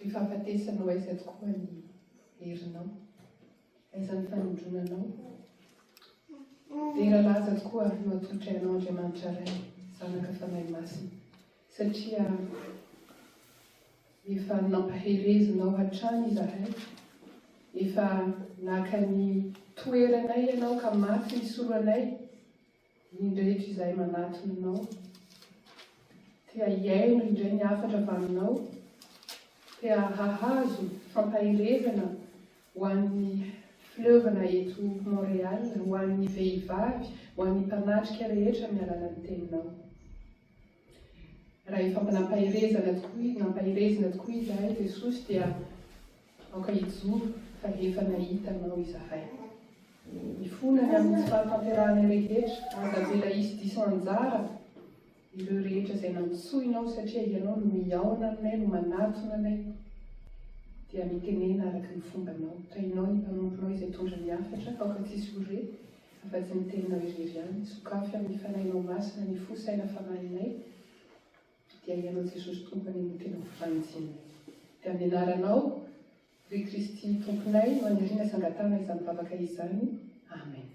Ry fahafatesanao aiza tokoa ny herinao? Aiza ny fanindronanao? Dera laza tokoa no atolotra ianao Andriamanitra Ray, Zanaka, Fanahy Masina, satria efa nampaherezinao hatrany izahay, efa naka ny toeranay ianao ka maty nisolo anay, Ny rehetra izay manatona anao, te hihaino ireny hafatra avy aminao, te hahazo fampaherezana ho an'ny fileovana eto Montréal, ho an'ny vehivavy, ho an'ny mpanatrika rehetra amin'ny alalan'ny teninao. Raha efa nampaherezana tokoa, nampaherezina tokoa izahay, Jesosy, dia aoka hijoro fa efa nahita Anao izahay. Mifona ny amin'ny tsy fahatanterahana rehetra, ary tavela hisy diso anjara ireo rehetra izay nantsoinao, satria Ianao no mihaona aminay, no manatona anay, dia mitenena araka ny fombanao. Tahinao ny mpanomponao izay tondra ny hafatra, aoka tsy hisy ho re, Efa tsy ny teninao irery ihany, sokafy amin'ny Fanahinao Masina ny fo, saina, fanahinay, dia Ianao Jesosy Tompo any amin'ny tena fifanajinay. Dia amin'ny Anaranao, ry Kristy Tomponay, no aniriana sy angatahana izany vavaka izany. Amen.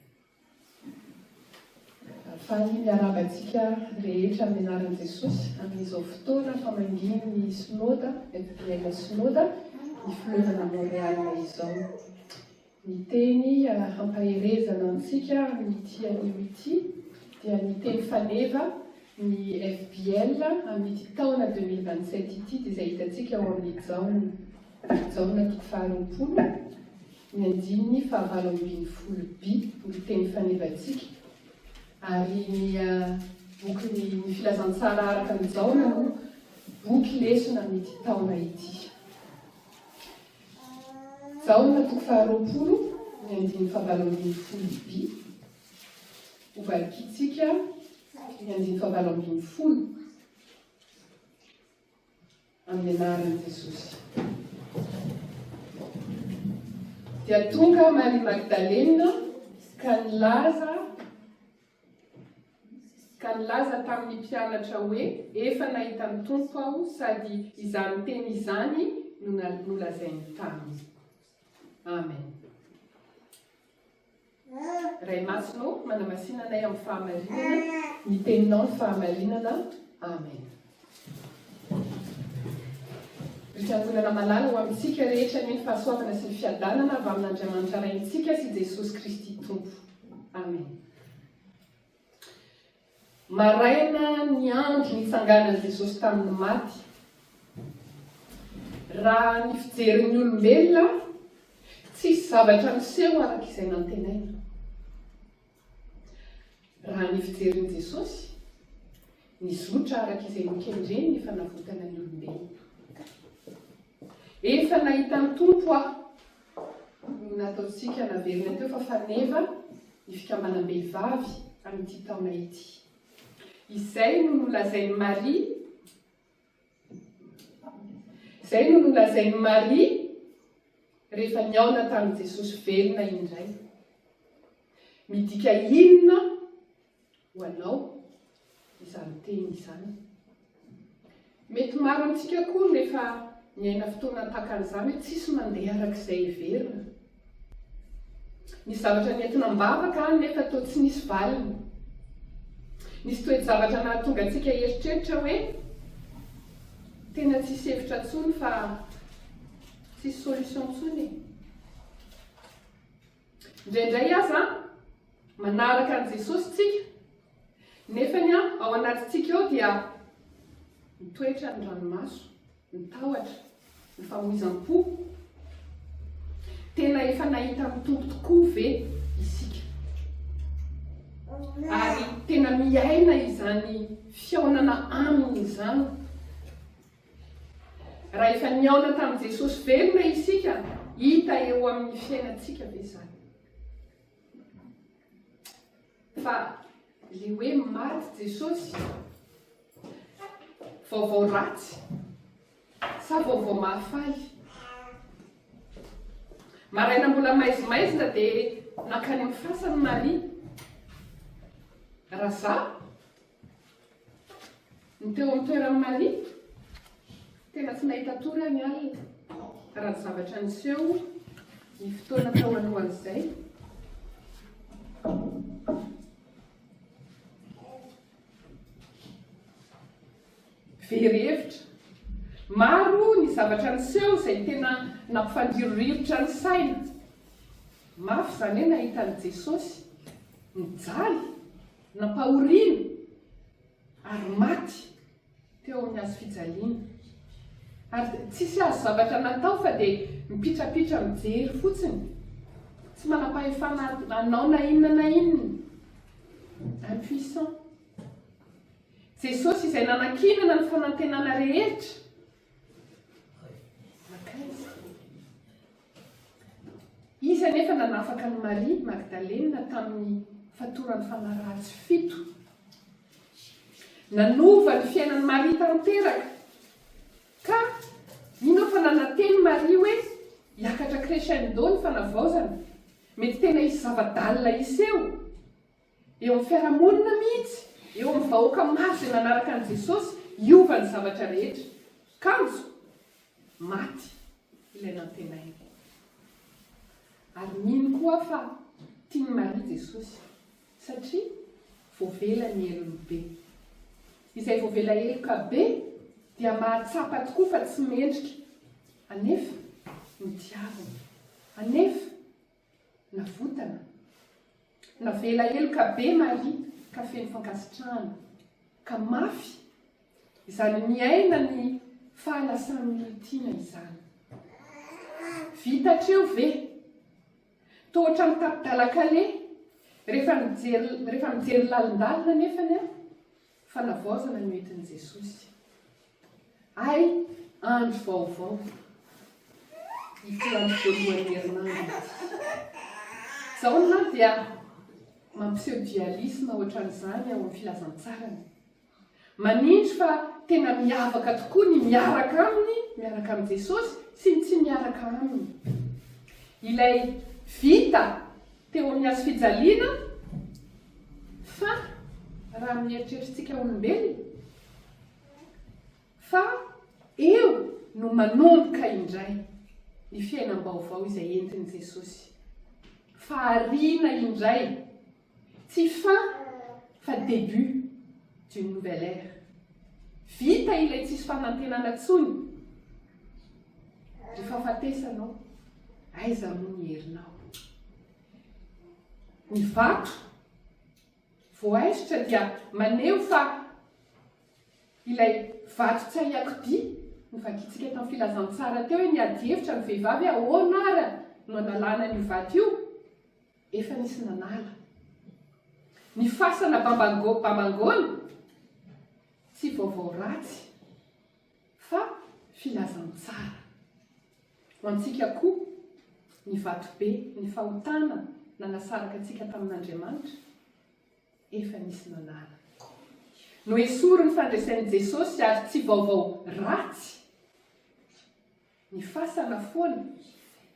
Faly miarahaba antsika rehetra amin'ny Anaran'i Jesosy amin'izao fotoana famangian'ny Synoda, Bethlem Synoda, ny Filoha Montréal izao. Ny teny hampaherezana antsika amin'ity anio ity dia ny teny faneva, ny FBL, amin'ity taona deux mille vingt sept ity dia izay hitantsika ao amin'ny Jaona, Jaona toko faharoapolo, ny andininy fahavalo ambin'ny folo bi, ny teny fanevantsika. Ary ny bokin'ny ny filazantsara araka ny Jaona no boky lesona amin'ity taona ity. Jaona toko faharoapolo ny andininy fahavalo ambin'ny folo bi, hovalikintsika ny andininy fahavalo ambin'ny folo amin'ny anaran'i Jesosy. Dia tonga Maria Magdalena ka nilaza ka nilaza tamin'ny mpianatra hoe, Efa nahita ny Tompo aho, sady izany teny izany no nolazainy taminy. Amen. Ray Masina ô, manamasina anay amin'ny fahamarinana, ny teninao ny fahamarinana. Amen. Ry fiangonana malala ho amintsika rehetra ny fahasoavana sy ny fiadanana avy amin'Andriamanitra Raintsika sy Jesosy Kristy Tompo. Amen. Maraina ny andro nitsanganan'i Jesosy tamin'ny maty. Raha ny fijerin'ny olombelona, tsisy zavatra niseho araka izay nantenaina. Raha ny fijerin'i Jesosy, Nizotra araka izay nokendreny ny fanavotana ny olombelona. Efa nahitan'ny Tompo aho ny nataontsika naverina teo fa faneva ny fikambanam-behivavy amin'ity taona ity. Izay no nolazain'i Maria Izay no nolazain'i Maria rehefa nihaona tamin'i Jesosy velona indray. Midika inona ho anao izany teny izany. Mety maro amintsika koa no efa niaina fotoana tahaka an'izany hoe tsisy mandeha araka izay heverina. Ny zavatra nentina am-bavaka nefa toa tsy nisy valiny. Nisy toe-javatra nahatonga antsika hieritreritra hoe tena tsisy hevitra intsony fa tsisy solution intsony. Indraindray aza, manaraka an'i Jesosy isika, nefa ny ao anatintsika ao dia mitoetra ny ranomaso, ny tahotra, ny famoizam-po. Tena efa nahita amin'ny Tompo tokoa ve isika? Ary tena miaina izany fihaonana aminy izany. Raha efa nihaona tamin'i Jesosy velona isika, hita eo amin'ny fiainantsika ve izany? Fa ilay hoe maty Jesosy, vaovao ratsy sa vaovao mahafaly? Maraina mbola maizimaizina dia nankany amin'ny fasany Maria. Raha za Ny teo amin'ny toeran'i Maria, tena tsy nahita tory ny alina, raha ny zavatra niseho ny fotoana tao alohan'izay. Very hevitra. Maro ny zavatra niseho izay tena nampifandirirotra ny saina. Mafy izany hoe nahita an'i Jesosy, nijaly. Nampahoriana ary maty teo amin'ny hazo fijaliana. Ary tsisy azo zavatra natao fa dia mipitrapitra mijery fotsiny. Tsy manam-pahefana hanao na inona na inona. Impuissant. Jesosy izay nanankinana ny fanantenana rehetra, nankaiza? Izy anefa nanafaka an'i Maria Magdalena tamin'ny fatoran'ny fanahy ratsy fito. Nanova ny fiainan'i Maria tanteraka. Ka mino aho fa nanantena i Maria hoe hiakatra crescendo ny fanavaozana. Mety tena hisy zava-dalina hiseho. Eo amin'ny fiarahamonina mihitsy, eo amin'ny vahoaka maro izay nanaraka an'i Jesosy, hiova ny zavatra rehetra. Kanjo, maty ilay nantenainy. Ary mino koa aho fa tian'i Maria Jesosy, satria voavela ny helony be. Izay voavela heloka be dia mahatsapa tokoa fa tsy mendrika, anefa notiaviny, anefa Navotana. Navela heloka be Maria ka feno fankasitrahana. Ka mafy izany miaina ny fahalasan'ny olon-tiana izany. Vita hatreo ve? Toa ohatran'ny tapi-dalakaleha, rehefa mijery, rehefa mijery lalindalina anefany aho, Fanavaozana no entin'i Jesosy. Hay andro vaovao. Ity andro voalohan'ny herinandro ity. Jaona dia mampiseho dialisma ohatran'izany ao amin'ny filazantsarany. Manindry fa tena miavaka tokoa ny miaraka aminy, miaraka amin'i Jesosy, sy ny tsy miaraka aminy. Ilay vita teo amin'ny hazo fijaliana fa raha amin'ny eritreritrintsika olombelona fa eo no manomboka indray ny fiainam-baovao izay entin'i Jesosy. Fahariana indray, tsy fin fa début d'une nouvelle ère. Vita ilay tsisy fanantenana tsony. Ry fahafatesanao, aiza moa ny herinao? Ny vato voaisitra dia maneho fa ilay vato tsy ahiakodia, novakintsika tamin'ny filazantsara teo hoe ny adihevitra ny vehivavy hoe ahoana ary no analana an'io vato io? Efa nisy nanala. Ny fasana bambango, bambangoana, tsy vaovao ratsy. Fa filazantsara ho antsika koa ny vatobe, ny fahotana nanasaraka antsika tamin'Andriamanitra, efa nisy nanala. Noesorin'ny fandresen'i Jesosy ary tsy vaovao ratsy ny fasana foana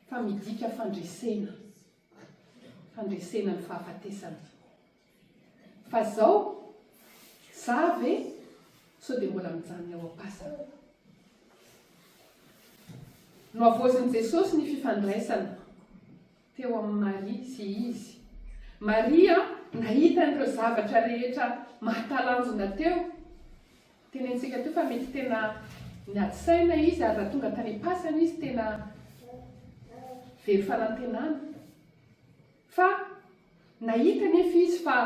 fa midika fandresena, fandresena ny fahafatesana. Fa zao? Za ve? Sao dia mbola mijanona eo am-pasana? Nohavaozin'i Jesosy ny fifandraisana teo amin'i Maria sy Izy. Maria nahita an'ireo zavatra rehetra mahatalanjona teo. Tenentsika teo fa mety tena niady saina Izy ary raha tonga tany am-pasana Izy tena very fanantenana. Fa. Nahita anefa izy fa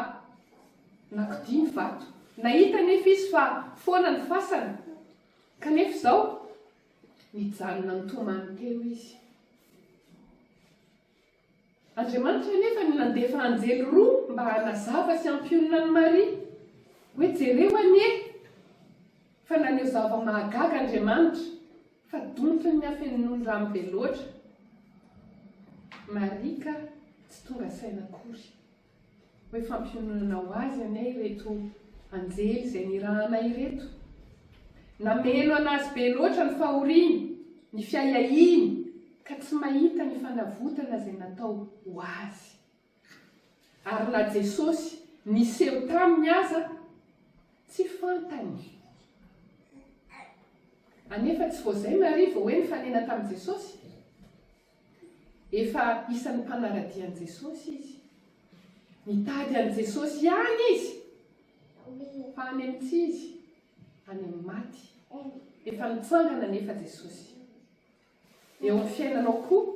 nakodia ny vato. Nahita anefa izy fa foana ny fasana. Kanefa izao, nijanona nitomany teo izy. Andriamanitra anefa no nandefa anjely roa mba hanazava sy hampionona an'i Maria, hoe, Jereo anie, fa naneho zava-mahagaga Andriamanitra. Fa donto ny afenon'ny rano be loatra. Marika tsy tonga saina akory. Hoe fampiononana ho azy anie ireto anjely izay nirahana ireto. Nameno an'azy be loatra ny fahoriany, ny fiahiahiany ka tsy mahita ny fanavotana izay natao ho azy. Ary na Jesosy niseho taminy aza tsy fantany. Anefa tsy vao zay Maria vao hoe nifanena tamin'i Jesosy. Efa isan'ny mpanara-dia an'i Jesosy izy. Nitady an'i Jesosy ihany izy. Fa any amin'ny tsy izy, any amin'ny maty. Efa nitsangana anefa Jesosy. Eo amin'ny fiainanao koa,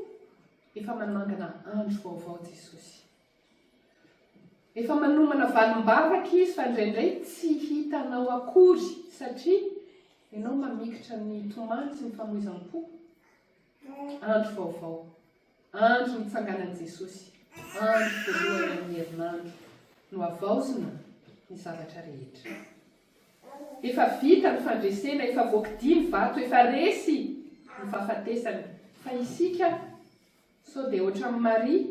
efa manangana andro vaovao Jesosy. Efa manomana valim-baraka Izy fa indraindray tsy hitanao akory satria ianao mamikitra ny tomany sy ny famoizam-po. Andro vaovao. Andro nitsanganan'i Jesosy. Andro voalohany amin'ny herinandro no havaozina ny zavatra rehetra. Efa vita ny fandresena, efa voakidia ny vato, efa resy ny fahafatesana, fa isika sao dia ohatran'i Maria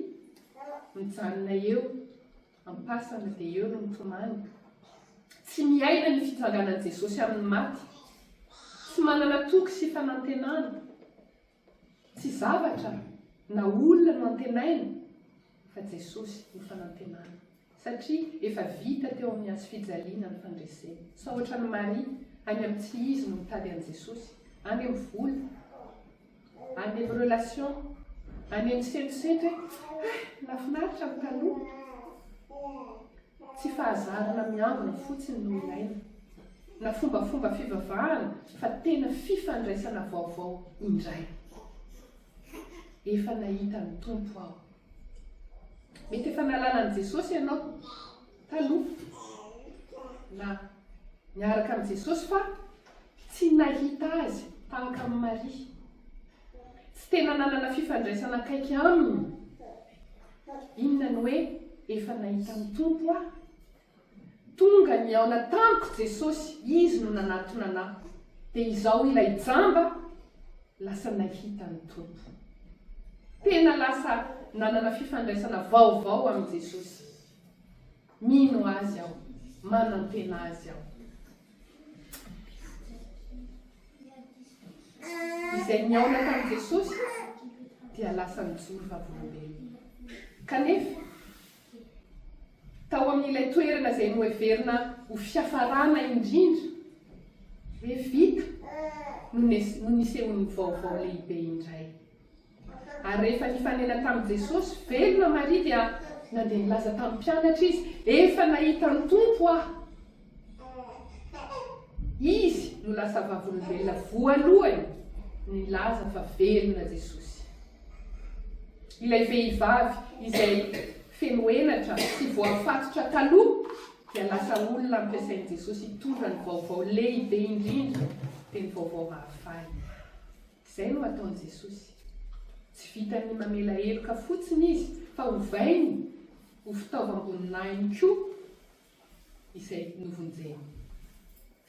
mijanona eo am-pasana dia eo no mitomany, tsy miaina ny fitsanganan'i Jesosy amin'ny maty, tsy manana toky sy fanantenana. Tsy zavatra na olona no antenaina fa Jesosy no fanantenana satria efa vita teo amin'ny hazo fijaliana ny fandresena. Sao ohatran'i Maria any amin'ny tsy izy no mitady an'i Jesosy, any amin'ny vola, any amin'ny relation, any amin'ny semisetra hoe ah nafinaritra ny taloha. Tsy fahazarana miangona fotsiny no ilaina, na fombafomba fivavahana fa tena fifandraisana vaovao indray. Efa nahita ny Tompo aho. Mety efa nahalala an'i Jesosy ianao taloha, na niaraka amin'i Jesosy fa tsy nahita Azy tahaka an'i Maria. Tsy tena nanana fifandraisana akaiky aminy. Inona ny hoe efa nahita ny Tompo aho? Tonga nihaona tamiko Jesosy, Izy no nanatona anà. Dia izaho ilay jamba lasa nahita ny Tompo. Tena lasa nanana fifandraisana vaovao amin'i Jesosy. Mino Azy aho. Manantena Azy aho. Izay nihaona tamin'i Jesosy dia lasa nijoro vavolombelona. Kanefa, tao amin'ilay toerana izay noheverina ho fiafarana indrindra, Levita no nisehoan'ny vaovao lehibe indray. Ary rehefa nifanena tamin'i Jesosy, velona Maria dia nandeha nilaza tamin'ny mpianatra izy, Efa nahita ny Tompo aho. Izy no lasa vavolombelona voalohany nilaza fa velona Jesosy. Ilay vehivavy izay feno henatra sy voafatotra taloha dia lasa olona ampiasain'i Jesosy hitondra ny vaovao lehibe indrindra, dia ny vaovao mahafaly. Izay no ataon'i Jesosy. Tsy vitan'ny mamela heloka fotsiny izy fa ovainy ho fitaovam-boninahiny koa izay novonjeny.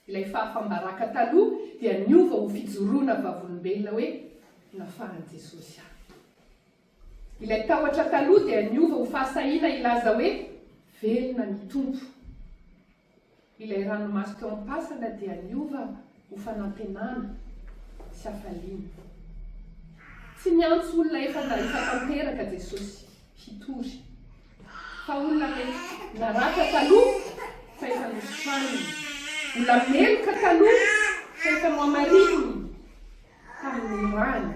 Ilay fahafam-baraka taloha dia niova ho fijoroana vavolombelona hoe nafahan'i Jesosy ahy. Ilay tahotra taloha dia niova ho fahasahiana hilaza hoe velona ny Tompo. Ilay ranomaso teo am-pasana dia niova ho fanantenana sy hafaliana. Tsy niantso olona efa nahita tanteraka Jesosy hitory, fa olona mety naratra taloha fa efa nosokaniny, mbola meloka taloha fa efa nohamarininy, Fanomorana,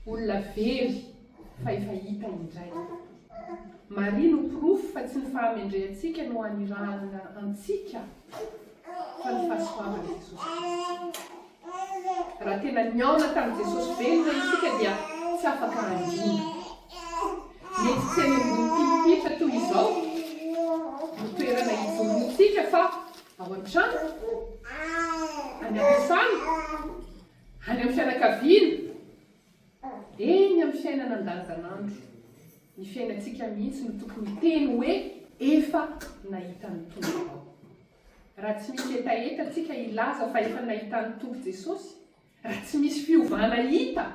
olona very fa efa hita indray. Maria no porofo fa tsy ny fahamendrehantsika no anirahana antsika fa ny fahasoavan'i Jesosy Kristy. Raha tena nihaona tamin'i Jesosy velona isika dia tsy afaka handina. Mety tsy any ambony pilipitra toy izao no toerana hijoroantsika fa ao an-trano, any am-piasana, Any amin'ny fianakaviana, eny amin'ny fiainana andavanandro, ny fiainantsika mihitsy no tokony hiteny hoe efa nahita ny Tompo aho. Raha tsy misy hetaheta tsika hilaza fa efa nahita ny Tompo Jesosy, raha tsy misy fiovana hita,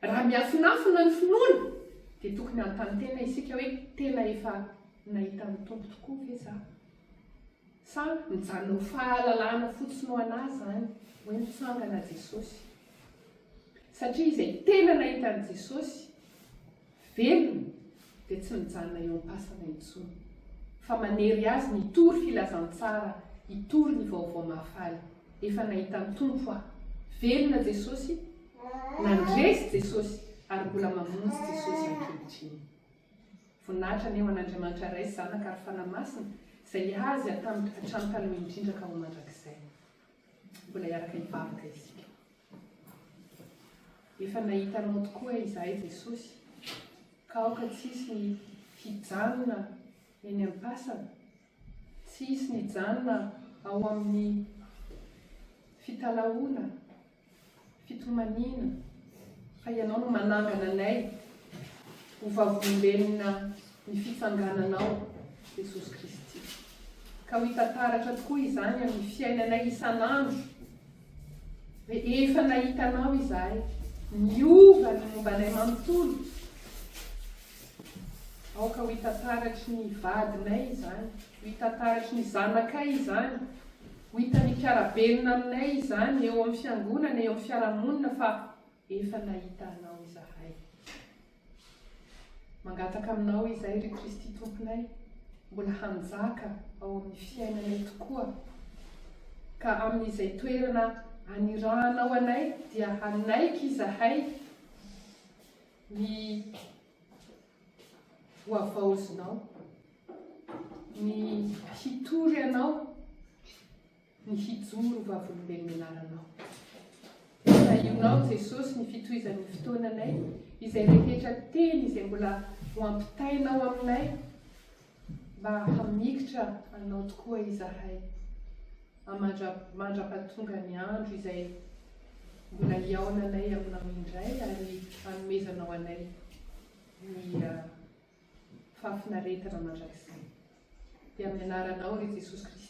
Raha miafinafina ny finoana dia tokony hanontany tena isika hoe tena efa nahita ny Tompo tokoa ve za? Sa mijanona ho fahalalana fotsiny ho anà izany hoe nitsangana Jesosy? Satria izay tena nahita an'i Jesosy, Velona dia tsy mijanona eo am-pasana intsony fa manery azy ny hitory filazantsara, hitory ny vaovao mahafaly. Efa nahita ny Tompo aho. Velona Jesosy, nandresy Jesosy ary mbola mamonjy Jesosy ankehitriny. Voninahitra anie ho an'Andriamanitra Ray sy Zanaka ary Fanahy Masina izay azy hatamiko hatrany taloha indrindra ka ho mandrakizay. Mbola hiaraka hivavaka isika. Efa nahita Anao tokoa izahay, Jesosy, ka aoka tsy hisy ny hijanona eny am-pasana, tsy hisy ny hijanona ao amin'ny fitalahoana, fitomaniana fa ianao no manangana anay ho vavolombelona ny fitsangananao Jesosy Kristy ka ho hita taratra tokoa izany amin'ny fiainanay isan'andro rehefa nahita anao izahay niova ny momba anay manontolo Aoka ho hita taratry ny vadinay izany, ho hita taratry ny zanakay izany, ho hitan'ny mpiara-belona aminay izany eo amin'ny fiangonana, eo amin'ny fiarahamonina fa efa nahita Anao izahay. Mangataka Aminao izay, ry Kristy Tomponay, mbola hanjaka ao amin'ny fiainanay tokoa, ka amin'izay toerana anirahanao anay dia hanaiky izahay ny voavaozinao, ny hitory anao, ny hijoro vavolombelona anaranao. Tahionao Jesosy ny fitohizan'ny fotoananay, izay rehetra teny izay mbola ho ampitainao aminay Mba hamikitra Anao tokoa izahay, amandra mandra-pahatonga ny andro izay mbola hihaonanay Aminao indray ary hanomezanao anay ny fahafinaretana mandrakizay. Dia amin'ny Anaranao, ry Jesosy Kristy.